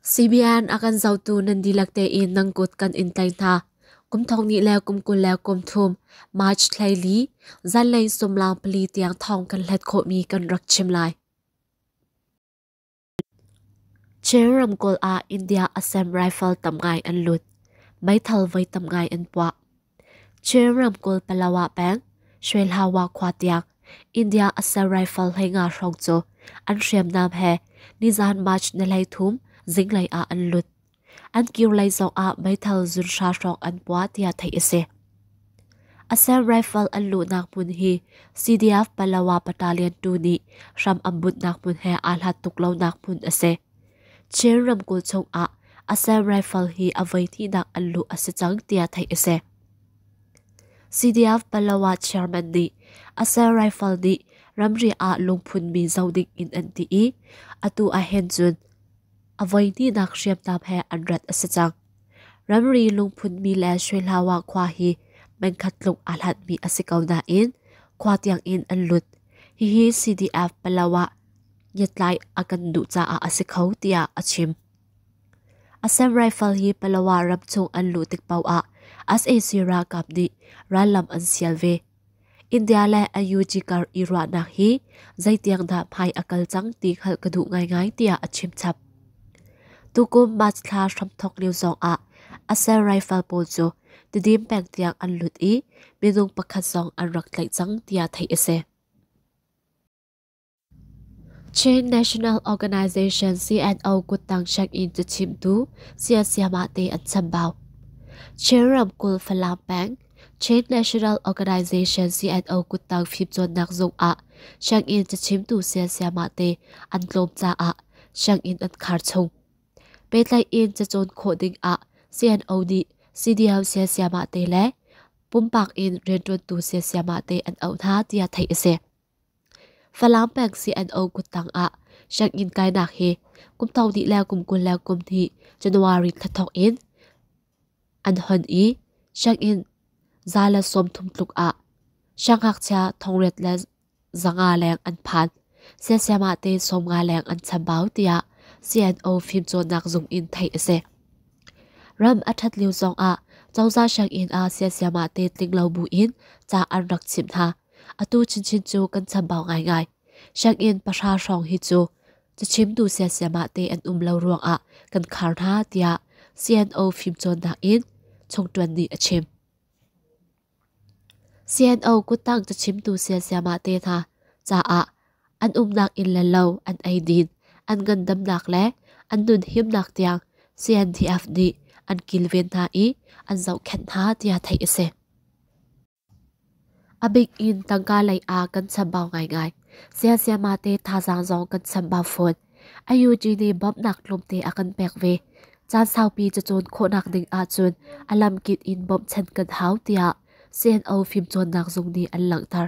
CBN a kan zotu nan dihlak tein nang kut kan in tlai hna. Kum thong ni le kum kul le kum thum March thlaili zanlei sumlang pali tiang thong kan hlet khawhmi kan rak chim lai. Chin ramkulh ah India Assam Rifle tam ngai an lut. Meithal voi tam ngai an puah. Chin ramkulh Palawa peng Shwehlawa khua tiang India Assault Rifle hlei nga hrawng cu an hriamnam he nizan March ni hlei thum zinglei ah an lut. An kir lei zong ah meithal zunhra hrawng an pua tiah theih a si. Assault Rifle an luhnak hmun hi CDF Palawa battalion tu nih hram an bunhnak hmun he aa hlat tuk lonak hmun a si. Chin ramkulh chungah a ser rifle hi a voi tinak an luh a si cang tiah theih a si. CDF Palawa chairman nih a ser rifle nih ramri ah lungphun mi zoh ding in an ti i atu ahhin cun a voi tinak hriamnam he an rat a si cang. Ramri lungphun mi le Shuihlawa khua hi mengkhat tluk a hlatmi a si ko nain khua tiang in an lut. Hihi CDF Palawa iatlai a kan duh caah a si kho tiah a chim. Assam Rifle hi Palawa ram chung an luh tik paoh ah SAC ralkap nih rallam an sial ve. India le IUG kar i ruahnak hi zeitiang dah phai a kal cang ti hal ka duh ngaingai tiah a chim chap. Tukum March thla hramthok lio zong ah Assam Rifle pawl cu tidim peng tiang an lut i minung pakhat zong an rak tlaih cang tiah theih a si. Chin National Organization CNO kuttang check-in cu chimtu Sia Siamate an chambau. Chin ramkul Falam peng Chin National Organization CNO kuttang fimcawnnak zung ah check-in cu chimtu Sia Siamate an tlawm caah check-in an khar chung. Petlai in ca cawn khawh ding ah CNO nih CDM Sia Siamate le pumpak in rianṭuantu Sia Siamate an auh hna tiah theih a si. Falang peng si an o kut tang ah sianginn kainak hi kum tong dih le kum kul le kum hnih January thla thawk in an hon i sianginn za le sawm thum tluk ah siangngakchia thongret le zanga leng an phan siasiama te sawmnga leng an chambau tiah CNO fimcawnnak zung in theih a si. Ram a ṭhat lio zong ah cozah sianginn ah siasiama te tlinglo bu in ca an rak chimh hna. atu chinchin cu kan chambau ngaingai. Sianginn pahra hrawng hi cu cachimtu siasiamah te an um lo ruangah kan khar hna tiah CNO fimcawnnak in chungṭuan nih a chim. CNO kuttang cachimtu siasiamah te hna caah an umnak inn le lo an eidin, an ngandamnak le an nun himnak tiang CNDF nih an kilven hna i an zohkhenh hna tiah theih a si. A bik in tangka lei ah kan chambau ngaingai. Siansiama te thazaang zong kan chambau fawn. IUG nih bawmhnak tlawmte a kan pek ve. Caan saupi cacun khawhnak ding ahcun a lamkip in bawmhchan kan hau tiah CNO fimcawnnak zung nih an langhter.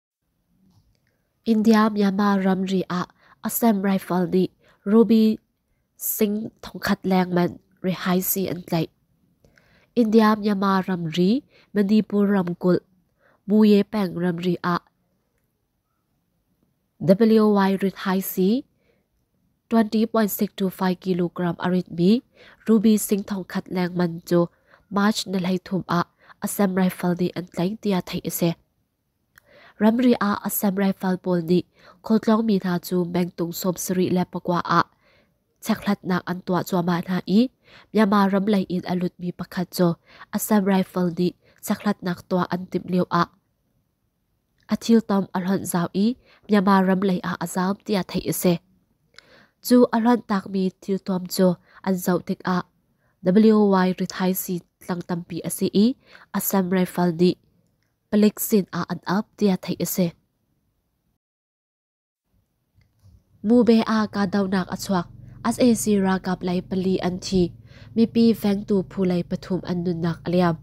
India-Myanmar ramri ah Assam Rifle nih ruby sing thongkhat lengmanh rihaisi an tlaih. India-Myanmar ramri Manipur ramkulh Muye peng ramri ah WY rihaisi 20.625 kilogram a ritmi ruby sing thongkhat lengmanh cu March ni hleithum ah Assam Rifle nih an tlaih tiah theih a si. Ramri ah Assam Rifle pawl nih khualtlawng mi hna cu mengtung sawmsarih le pakua ah checkhlatnak an tuah cuahmah hna i Myanmar ram lei in a lutmi pakhat cu Assam Rifle nih checkhlatnak tuah an timh lioah a thiltom a hlonh zau i Myanmar ram lei ah a zaam tiah theih a si. Cu a hlonhtakmi thiltom cu an zoh tikah WY rithaisii tlang tampi a si i Assam Rifle nih Palek sinah an ap tiah theih a si. Mube ah kahdohnak a chuak. SAC ralkap lei pali an thi. Mipi vengtu phu lei pathum an nunnak a liam.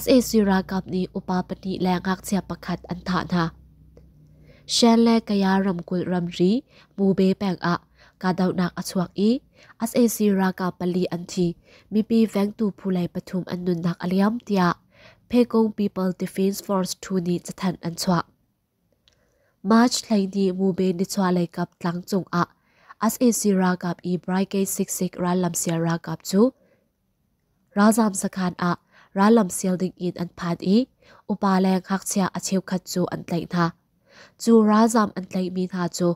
SAC ralkap nih upa pahnih le ngakchia pakhat an thah hna. Shan le Kaya ramkulh ramri Mube peng ah kahdohnak a chuak i SAC ralkap pali an thi. Mipi vengtu phu lei pathum an nunnak a liam tiah Pekong People Defense Force thu nih cathanh an chuah. March thleini mume nichualei kap tlang cung ah SAC ralkap i Brigade 66 rallam sial ralkap cu ralzam sakhan ah rallam sial ding in an phan i upa le ngakchia a cheukhat cu an tlaih hna. Cu ralzam an tlaihmi hna cu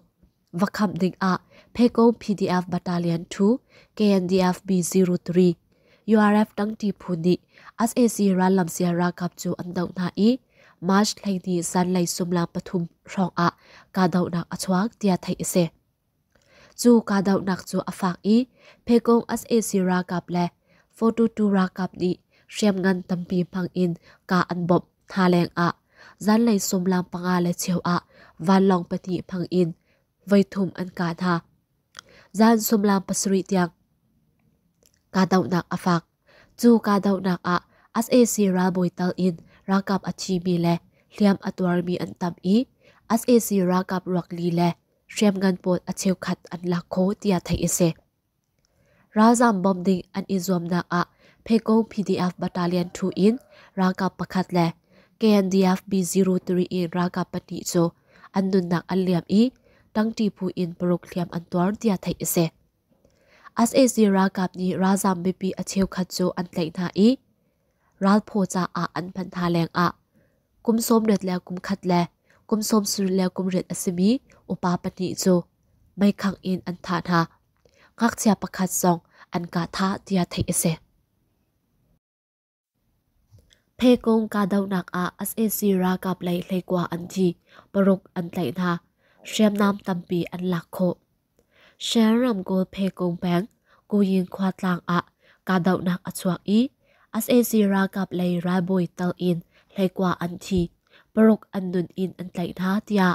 va khamh dingah Pheko PDF Battalion 2 KNDF B03 URF tangti phu nih SAC rallam sia ralkap cu an doh hna i March thleini zanlei sumlang pathum hrawng ah kahdohnak a chuak tia theih a si. Cu kahdohnak cu a fak i Phekong SAC ralkap le 42 ralkap nih hriamngan tampi hmang in ka an bawmh Hna leng ah zanlei sumlam panga le cheu ah vanlawng pahnih hmang in voithum an ka hna. Zan sumlam pasarih tiang kahdohnak a fak. Cu kahdohnak ah SAC ralbawi tal in ralkap a thimi le hliam a tuarmi an tam i SAC ralkap ruak li le hriamngan pawl a cheukhat an lak kho tiah theih a si. Ralzaam bawmh ding an i zuamnak ah Pheko PDF Battalion thu in ralkap pakhat le KNDF B03 in ralkap pahnih cu an nunnak an liam i tangti phu in paruk hliam an tuar tiah theih a si. SAC ralkap nih ralzaam mipi a cheukhat cu an tlaih hna i ralphaw caah an phanh hna leng ah kum sawmriat le kum khat le kum sawmsarih le kum riat a simi upa pahnih cu meikhangh in an thah hna. Ngakchia pakhat zong an kah thah tiah theih a si. Phekung kahdohnak ah sac ralkap lei hleikua an thi, paruk an tlaih hna, hriamnam tampi an lak khawh. Shan ramkulh Phekung peng Kuyin khua tlang ah kahdohnak a chuak i sac ralkap lei ralbawi tal in hleikua an thi, paruk an nun in an tlaih hna tiah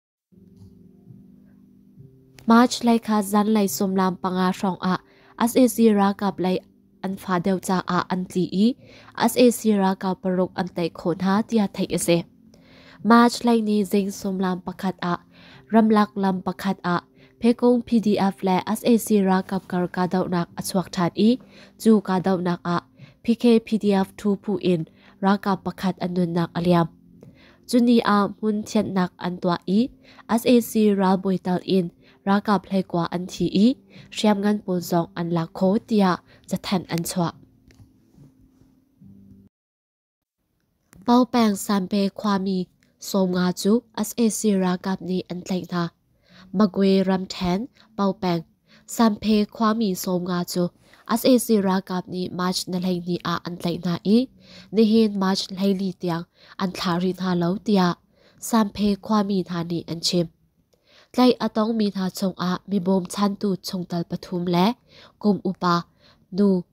March lei kha zanlei sumlam panga hrawngah sac ralkap lei an fa deuh caah an tli i sac ralkap paruk an tei khawh hna tiah theih a si. March lei ni zing sumlam pakhat ah ramlak lam pakhat ah Pekong PDF le sac ralkap kar kahdohnak a chuak ṭhan i cu kahdohnak ah PKPDF thu phu in ralkap pakhat an nunnak a liam. Cuni ah hmun thianhnak an tuah i sac ralbawi tal in ralkap hleikua an thi i hriamngan pawl zong an lak kho tiah cathanh an chuah. Paopeng Sanpe khuami Sawm Nga cu sac ralkap nih an tlaih hna. Magwe ramṭhen, Baopeng, Sanphe khuami sawmnga cu sac ralkap nih March ni hleihnih ah an tlaih hna i nihin March hleili tiang an thlah rih hna lo tiah Sanphe khuami hna nih an chim. Tlaih a tongmi hna chungah mi bawmchantu chungtel pathum le kum upa nu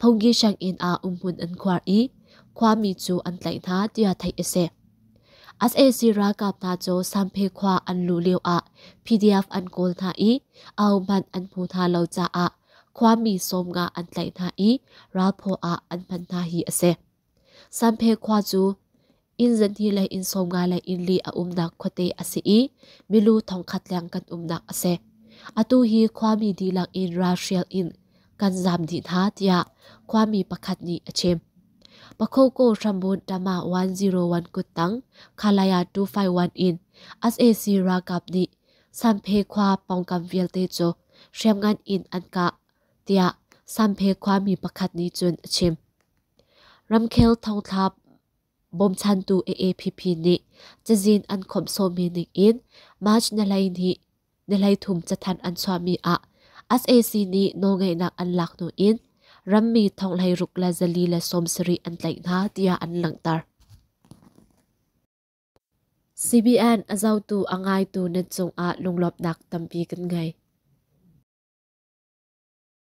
Phungki hranginn ah umhmun an khuar i khuami cu an tlaih hna tiah theih a si. sac ralkap hna cu Samphe khua an luh lioah PDF an kawl hna i au hmanh an hmu hna lo caah khuami sawm nga an tlaih hna i ralphaw ah an hman hna hi a si. Sanphe khua cu inn zanhni le inn sawmnga le inn li a umnak khuate a si i milu thongkhat leng kan umnak a si. Atu hi khuami dihlak in ralhrial in kan zam dih hna tiah khuami pakhat nih a chim. Pakoko Hrambun Tama 101 kuttang Khalaya 251 in SAC ralkap nih Sanphe khua pongkam vialte cu hriamngan in an kah tiah Sanphe khuami pakhat nih cun a chim. Ramkhel thongthla bawmchantu AAPP nih cazin an khawmh sawmi ningin March ni hleithum cathanh an chuahmi ah sac nih nawlngeihnak an lak hnu in rammi thonghleiruk le zali le sawmsarih an tlaih hna tiah an langhter. CBN a zotu a ngaitu nan cungah lunglawmhnak tampi kan ngei.